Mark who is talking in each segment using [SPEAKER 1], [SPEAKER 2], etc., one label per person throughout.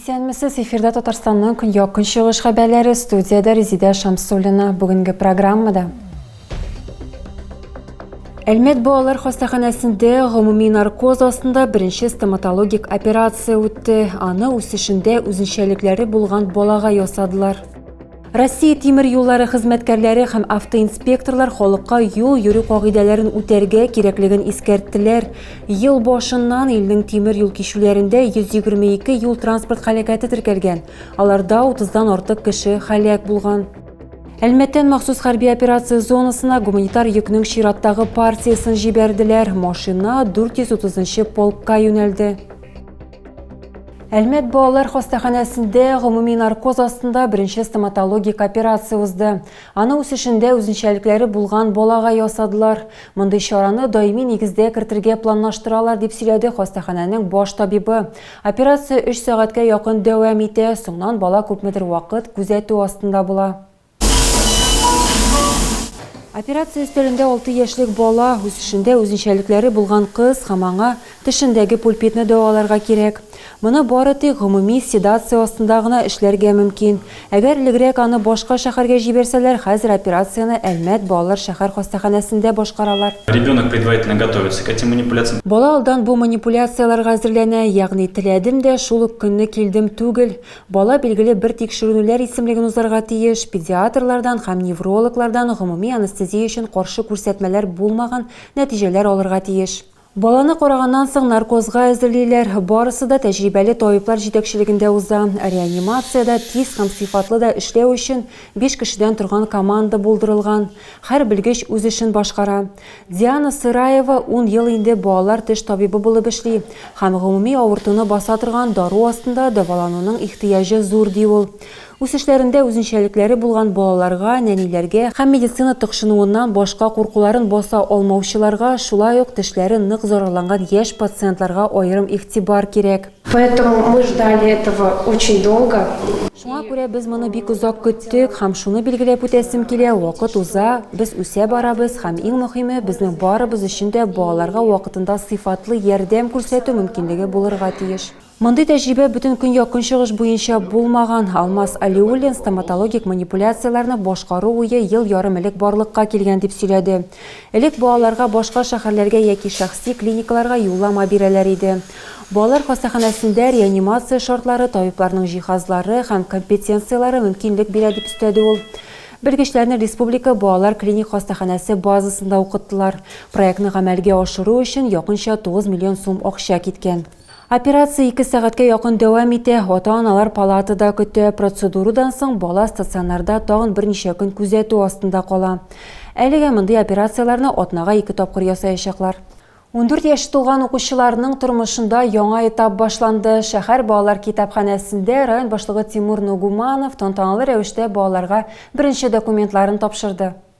[SPEAKER 1] Исәнмесез, эфирда Татарстанның көньяк-көнчыгыш хәбәрләре, студиядә Резидә Шамсуллина. Бүгенге программада Әлмәт балалар хастаханәсендә гомуми наркоз астында беренче стоматологик операция үтте. Аны үсешендә үзенчәлекләре булган балага ясадылар. Россия тимер юллары хезмәткәрләре һәм автоинспекторлар халыкка юл йөрү кагыйдәләрен үтәргә кирәклеген искәрттеләр. Ел башыннан илнең тимер юл кичүләрендә 122 юл транспорт халәкәте теркәлгән. Аларда 30 дан артык кеше халәк булган. Әлмәттән махсус хәрби операция зонасына гуманитар йөкнең чираттагы партиясен җибәрделәр. Машина 430 полкка юнәлде. Әлмәт балалар хастаханәсендә гомуми наркоз астында беренче стоматологик операция узды. Аны үсешендә үзенчәлекләре булган балага ясадылар. Мондый чараны даими нигездә кертергә планлаштыралар, дип сөйләде хастаханәнең баш табибы. Операция өч сәгатькә якын дәвам итә, соңнан бала күпмедер вакыт күзәтү астында була. Операция өстәлендә алты яшьлек бала, үсешендә үзенчәлекләре булган кыз һәм аңа тешендәге пульпитны дәваларга кирәк. Моны бары тик гомуми седация астында гына эшләргә мөмкин. Әгәр элегрәк аны башка шәхәргә җибәрсәләр, хәзер операцияне Әлмәт балалар шәхәр хастаханәсендә башкаралар. Ребенок предварительно
[SPEAKER 2] готовится к этим манипуляциям. Бала алдан бу
[SPEAKER 1] манипуляцияләргә әзерләнә, ягъни теләдем дә, шул ук көнне килдем түгел. Бала билгеле бер тикшеренүләр исемлеген узарга тиеш, педиатрлардан һәм неврологлардан гомуми анестезия өчен каршы күрсәтмәләр булмаган нәтиҗәләр алырга тиеш. Баланы караганнан соң наркозга әзерлиләр. Барысы да тәҗрибәле табиблар җитәкчелегендә уза. Реанимациядә тиз һәм сыйфатлы да эшләү өчен биш кешедән торган команда булдырылган. Һәр белгеч үз эшен башкара. Диана Сыраева ун ел инде балалар теш табибы булып эшли һәм гомуми авыртуны баса торган дару астында дәвалануның ихтыяҗы зур, ди ул. Үсешләрендә үзенчәлекләре булган балаларга, нәниләргә һәм медицина тыкшынуыннан башка куркуларын баса алмаучыларга, шулай ук тешләре нык зарарланган яшь пациентларга аерым игътибар кирәк. Поэтому мы
[SPEAKER 3] ждали этого очень долго. Шуңа күрә без
[SPEAKER 1] моны бик озак көттек һәм шуны билгеләп үтәсем килә, вакыт уза, без үсә барабыз һәм иң мөһиме, безнең барыбыз өчен дә балаларга вакытында сыйфатлы ярдәм күрсәтү мөмкинлеге булырга тиеш. Мондый тәҗрибә бөтен көньяк-көнчыгыш буенча булмаган. Алмаз Алиуллин стоматологик манипуляцияләрне башкару уе ел ярым элек барлыкка килгән дип сөйләде. Элек балаларга башка шәһәрләргә яки шәхси клиникаларга юллама бирәләр иде. Балалар хастаханәсендә реанимация шартлары, табибларның җиһазлары һәм компетенцияләре мөмкинлек бирә, дип өстәде ул. Белгечләрне республика балалар клиник хастаханәсе базасында укыттылар. Проектны гамәлгә ашыру өчен якынча 9 миллион сум акча киткән. Операция ике сәгатькә якын дәвам итә. Ата-аналар палатада көтә. Процедурадан соң бала стационарда тагын берничә көн күзәтү астында кала. Әлегә мондый операцияләрне атнага ике тапкыр ясаячаклар. Ундүрт яше тулган укучыларның тормышында яңа этап башланды. Шәһәр балалар китапханәсендә район башлыгы Тимур Нугуманов тантаналы рәвештә балаларга беренче документларын тапшырды.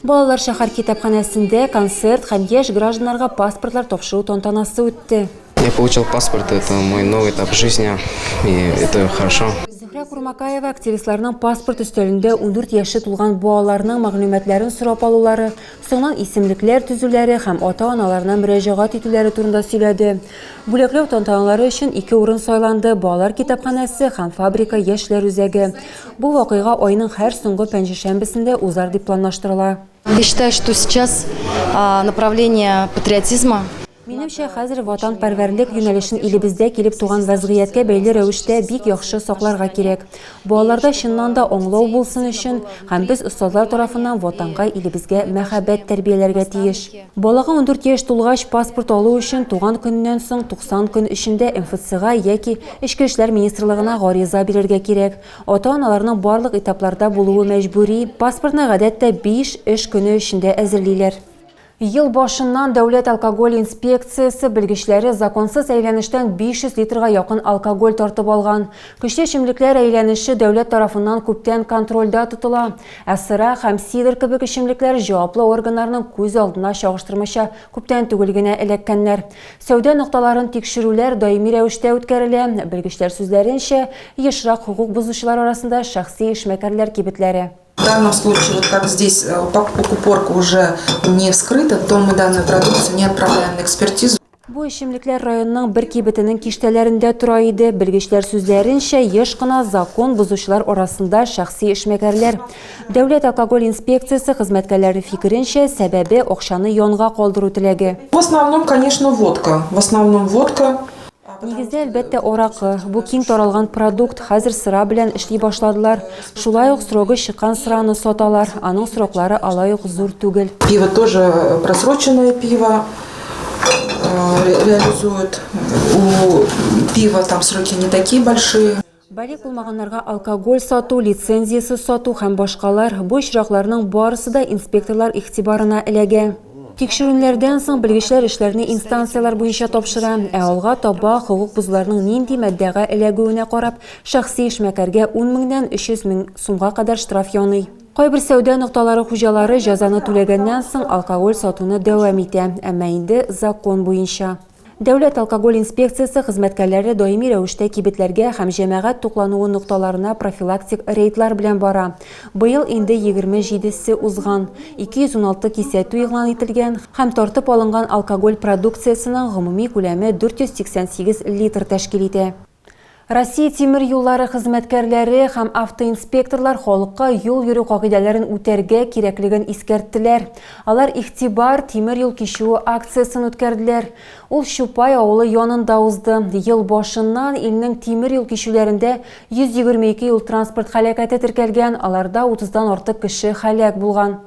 [SPEAKER 1] Балалар шәһәр китапханәсендә концерт һәм яшь гражданнарга паспортлар тапшыру тантанасы үтте. Я получил паспорт,
[SPEAKER 4] это мой новый этап жизни, и это хорошо. Зөһрә Курмакаева
[SPEAKER 1] активистларның паспорт өстәлендә 14 яше тулган балаларның мәгълүматларын сорап алулары, соңыннан исемлекләр төзүләре һәм ата-аналарына мөрәҗәгать итүләре турында сөйләде. Бүләкләү тантаналары өчен ике урын сайланды, балалар китапханәсе һәм фабрика яшьләр үзәге. Бу вакыйга айның һәр соңгы пәнҗешәмбесендә узар дип планлаштырыла. Я считаю, что
[SPEAKER 5] сейчас направление патриотизма. Минемчә, хәзер
[SPEAKER 1] ватанпәрвәрлек юнәлешен илебездә килеп туган вәзгыятькә бәйле рәвештә бик яхшы сакларга кирәк. Балаларда чыннан да аңлау булсын өчен һәм без остазлар тарафыннан Ватанга, илебезгә мәхәббәт тәрбияләргә тиеш. Балага 14 яшь тулгач паспорт алу өчен туган көненнән соң 90 көн эчендә МФЦга яки Эчке эшләр министрлыгына гариза бирергә кирәк. Ата-аналарның барлык этапларда булуы мәҗбүри. Паспортны гадәттә 5 эш көне эчендә әзерлиләр. Ел башыннан Дәүләт алкоголь инспекциясе белгечләре законсыз әйләнештән 500 литрга якын алкоголь тартып алган. Көчле эчемлекләр әйләнеше дәүләт тарафыннан күптән контрольдә тотыла. Ә сыра һәм сидр кебек эчемлекләр җаваплы органнарның күз алдына чагыштырмача күптән түгел генә эләккәннәр. Сәүдә нокталарын тикшерүләр даими рәвештә үткәрелә. Белгечләр сүзләренчә, ешрак хокук бозучылар арасында шәхси эшмәкәрләр кибетләре. В данном случае,
[SPEAKER 6] вот как здесь упаковка уже не вскрыта, то мы данную продукцию не отправляем на экспертизу. Бу эчемлекләр
[SPEAKER 1] районның бер кибетенең киштәләрендә тора иде. Белгечләр сүзләренчә, еш кына закон бозучылар арасында шәхси эшмәкәрләр. Дәүләт алкоголь инспекциясе хезмәткәрләре фикеренчә, сәбәбе, акчаны янга калдыру теләге. В основном, конечно,
[SPEAKER 6] водка. В основном, водка. Нигездә,
[SPEAKER 1] әлбәттә, аракы. Бу киң таралган продукт. Хәзер сыра белән эшли башладылар. Шулай ук срогы чыккан сыраны саталар, аның сроклары алай ук зур түгел. Пиво тоже
[SPEAKER 6] э, просроченное пиво э, реализуют. У пива там сроки не такие большие. Балик булмаганнарга
[SPEAKER 1] алкоголь сату, лицензиясез сату һәм башкалар бу очракларның барысы да инспекторлар игътибарына эләгә. Тикшерүләрдән соң белгечләр эшләрне инстанцияләр буенча тапшыра, ә алга таба хокук бозуларның нинди маддәгә эләгүенә карап, Шәхси эшмәкәргә ун меңнән 300 мең сумга кадәр штраф яный. Кайбер сәүдә нокталары хуҗалары җәзаны түләгәннән соң алкоголь сатуны дәвам итә, әмма инде закон буенча. Дәүләт алкоголь инспекциясе хезмәткәрләре даими рәвештә кибетләргә һәм җәмәгать туклануы нокталарына профилактик рейдлар белән бара. Быел инде егерме җидесе узган, 216 кисәтү игълан ителгән һәм тартып алынган алкоголь продукциясенең гомуми күләме 488 литр тәшкил итә. Россия тимер юллары хезмәткәрләре һәм автоинспекторлар халыкка юл йөрү кагыйдәләрен үтәргә кирәклеген искәрттеләр. Алар Игътибар, тимер юл кичүе акциясен үткәрделәр. Ул Чупай авылы янында узды. Ел башыннан илнең тимер юл кичүләрендә 122 юл-транспорт һәлакәте теркәлгән, аларда 30 дан артык кеше һәлак булган.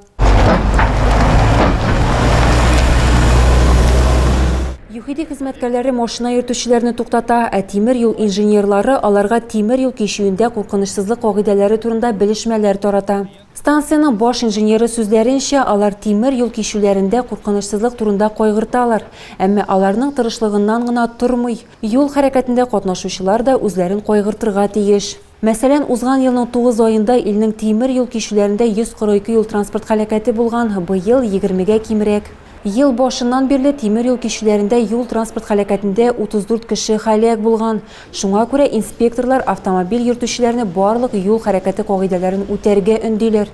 [SPEAKER 1] ЮХИДИ хезмәткәрләре машина йөртүчеләрне туктата, ә тимер юл инженерлары аларга тимер юл кичүендә куркынычсызлык кагыйдәләре турында белешмәләр тарата. Станциянең баш инженеры сүзләренчә, алар тимер юл кичүләрендә куркынычсызлык турында кайгырталар, әмма аларның тырышлыгыннан гына тормый. Юл хәрәкәтендә катнашучылар да үзләрен кайгыртырга тиеш. Мәсәлән, узган елның тугыз аенда илнең тимер юл кичүләрендә 142 юл-транспорт һәлакәте булган, быел, егермегә кимрәк. Ел башыннан бирле тимер юл кичүләрендә юл-транспорт һәлакәтендә 34 кеше һәлак булган. Шуңа күрә инспекторлар автомобиль йөртүчеләрне барлык юл хәрәкәте кагыйдәләрен үтәргә өндиләр.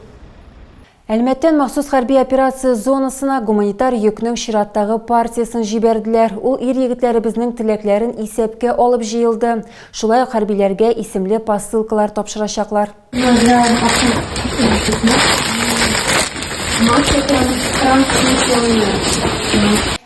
[SPEAKER 1] Әлмәттән махсус хәрби операция зонасына гуманитар йөкнең чираттагы партиясен җибәрделәр. Ул ир-егетләребезнең теләкләрен исәпкә алып җыелды. Шулай ук хәрбиләргә исемле посылкалар тапшырачаклар.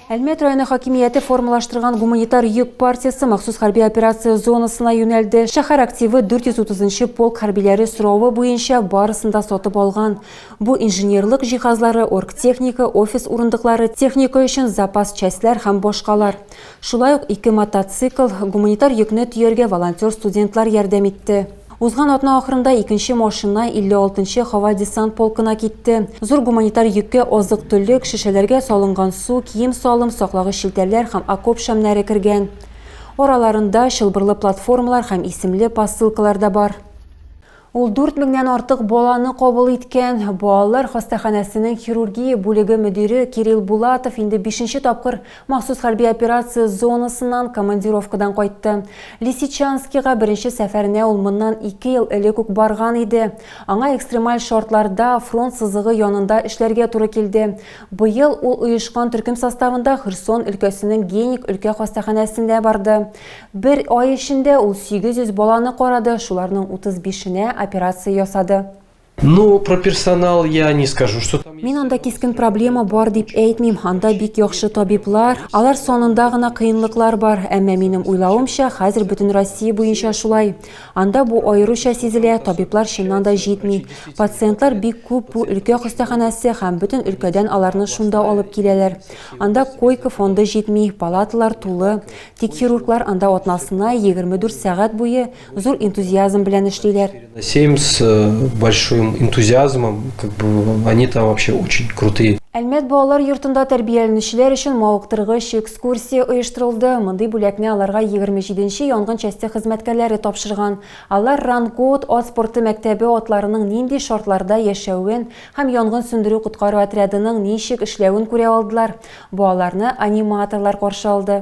[SPEAKER 1] Әлмәт районы хакимияте формалаштырган гуманитар йөк партиясе махсус хәрби операция зонасына юнәлде. Шәһәр активы 430 нчы полк хәрбиләре соравы буенча барысын да сатып алган. Бу инженерлык җиһазлары, оргтехника, офис урындыклары, техника өчен запас частьләр һәм башкалар. Шулай ук ике мотоцикл, гуманитар йөкне төяргә волонтер-студентлар ярдәм итте. Узган атна ахырында икенче машина 56 нчы һава-десант полкына китте. Зур гуманитар йөккә азык-төлек, шешәләргә салынган су, кием-салым, саклагыч челтәрләр һәм окоп шәмнәре кергән. Араларында чылбырлы платформалар һәм исемле посылкалар да бар. Ул дүрт меңнән артык баланы кабул иткән. Балалар хастаханәсенең хирургия бүлеге мөдире Кирилл Булатов инде бишенче тапкыр Махсус хәрби операция зонасыннан командировкадан кайтты. Лисичанскига беренче сәфәренә ул моннан ике ел элек үк барган иде. Аңа экстремаль шартларда, фронт сызыгы янында эшләргә туры килде. Быел ул оешкан төркем составында Херсон өлкәсенең Геник өлкә хастаханәсенә барды. Бер ай эчендә ул 800 баланы карады, шуларның 35-енә операция ясады. Ну, про
[SPEAKER 7] персонал я не скажу, что там... Мин анда кискен проблема
[SPEAKER 1] бар дип әйтмим. Анда бик яхшы табиблар, алар сонында гына кыенлыклар бар. Әмма минем уйлавымча, хәзер бөтен Россия буенча шулай. Анда бу аеруча сизелә, табиблар чыннан да җитми. Пациентлар бик күп бу өлкә хастаханәсе һәм бөтен өлкәдән аларны шунда алып киләләр. Анда койка фонды җитми, палаталар тулы. Тик хирурглар анда атнасына 24 сәгать буе Зур энтузиазм белән эшлиләр. Сеем с э,
[SPEAKER 7] большим энтузиазмом, как бы они там вообще очень крутые. Әлмәт
[SPEAKER 1] балалар йортында тәрбияләнүчеләр өчен мавыктыргыч экскурсия оештырылды. Мондый бүләкне аларга 27-нче янгын часте хезмәткәрләре тапшырган. Алар Рангут ат спорты мәктәбе атларының нинди шартларда яшәвен һәм янгын сүндерү коткару отрядының ничек эшләвен күрә алдылар. Балаларны аниматорлар каршы алды.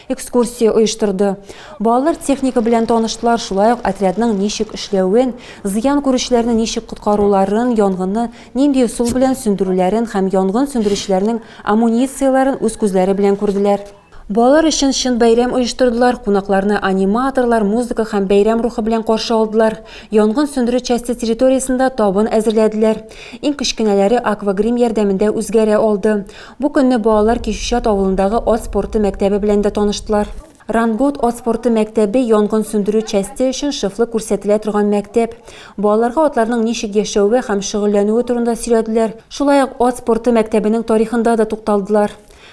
[SPEAKER 1] экскурсия оештырды. Балалар техника белән таныштылар, шулай ук отрядның ничек эшләвен, зыян күрүчеләрне ничек коткаруларын, янгынны нинди ысул белән сүндерүләрен һәм янгын сүндерүчеләрнең амуницияләрен үз күзләре белән күрделәр. Балалар өчен чын бәйрәм оештырдылар, кунакларны аниматорлар, музыка һәм бәйрәм рухы белән каршы алдылар. Янгын сүндерү часте территориясендә табын әзерләделәр. Иң кечкенәләре аквагрим ярдәмендә үзгәрә алды. Бу көнне балалар Кишүчат авылындагы ат спорты мәктәбе белән дә таныштылар. Рангут ат спорты мәктәбе янгын сүндерү часте өчен шефлык күрсәтелә торган мәктәп. Балаларга атларның ничек яшәве һәм шөгыльләнүе турында сөйләделәр. Шулай ук ат спорты мәктәбенең тарихында да тукталдылар.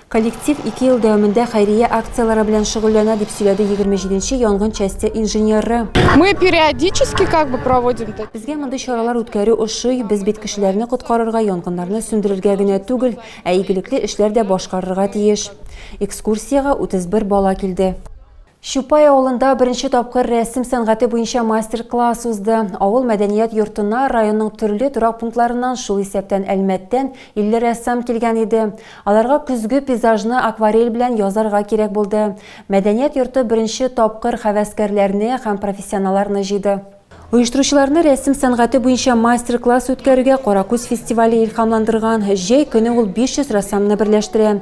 [SPEAKER 1] Коллектив ике ел дәвамында хәйрия акцияләре белән шөгыльләнә, дип сөйләде егерме җиденче янгын часте инженеры. Мы периодически
[SPEAKER 8] как бы проводим такие. Безгә мондый чаралар
[SPEAKER 1] үткәрү ошый, без бит кешеләрне коткарырга, янгыннарны сүндерергә генә түгел, ә игелекле эшләр дә башкарырга тиеш. Экскурсиягә 31 бала килде. Чупай авылында беренче тапкыр рәсем сәнгате буенча мастер-класс узды. Авыл мәдәният йортына районның төрле торак пунктларыннан, шул исәптән Әлмәттән 50 рәссам килгән иде. Аларга көзге пейзажны акварель белән язарга кирәк булды. Мәдәният йорты беренче тапкыр хәвәскәрләрне һәм профессионаларны җыйды. Оештыручыларны рәсем сәнгате буенча мастер-класс үткәрүгә Каракүз фестивале илхамландырган. Җәй көне ул 500 рәссамны берләштерә.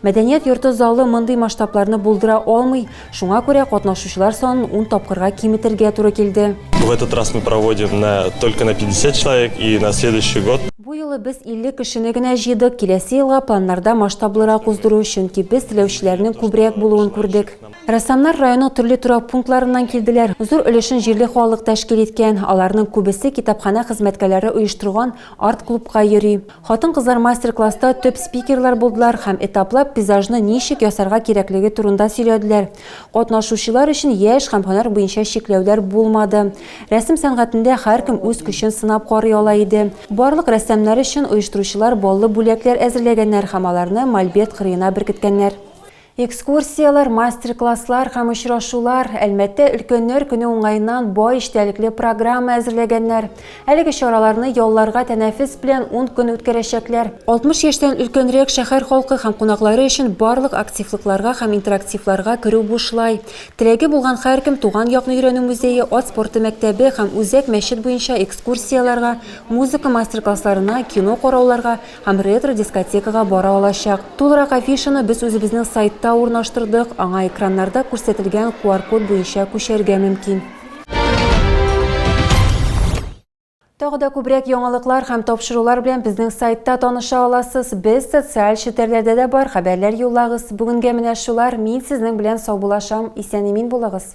[SPEAKER 1] Мәдәният йорты залы мондый масштабларны булдыра алмый. Шуңа күрә катнашучылар санын ун тапкырга киметергә туры килде. В этот раз мы
[SPEAKER 9] проводим на только на 50 человек и на следующий год. Бу юлы без 50
[SPEAKER 1] кешене генә җыйдык. Киләсе елга планнарда масштаблырак уздыру, чөнки без теләүчеләрнең күбрәк булуын күрдек. Рәссамнар районның төрле торак пунктларыннан килделәр. Зур өлешен җирле халык тәшкил иткән. Аларның күбесе китапханә хезмәткәләре оештырган арт-клубка йөри. Хатын-кызлар мастер-класста төп спикерлар булдылар һәм этаплап пейзажны ничек ясарга кирәклеге турында сөйләделәр. Катнашучылар өчен яшь һәм һөнәр буенча чикләүләр булмады. Рәсем сәнгатендә һәркем үз көчен сынап карый ала иде. Барлык рәссамнар өчен оештыручылар баллы бүләкләр әзерләгәннәр һәм аларны мольберт кырыена беркеткәннәр. Экскурсияләр, мастер-класслар һәм очрашулар, Әлмәттә Өлкәннәр көне уңаеннан бай эчтәлекле программа әзерләгәннәр. Әлеге чараларны ялларга тәнәфес белән ун көн үткәрәчәкләр. 60 яшьтән өлкәнрәк шәһәр халкы һәм кунаклары өчен барлык активлыкларга һәм интерактивларга керү бушлай. Теләге булган һәркем Туган якны өйрәнү музее, Ат спорты мәктәбе һәм Үзәк мәчет буенча экскурсияләргә, музыка мастер-классларына, кино карауларга, һәм ретро-дискотекага бара алачак. Тулырак афишаны без үзебезнең сайтта урнаштырдык, аңа экраннарда күрсәтелгән QR-код буенча күчәргә мөмкин. Тагы да күбрәк яңалыклар һәм тапшырулар белән безнең сайтта таныша аласыз. Без социаль челтәрләрдә дә бар, хәбәрләр юллагыз. Бүгенгә менә шулар. Мин сезнең белән саубулашам. Исән-имин булыгыз!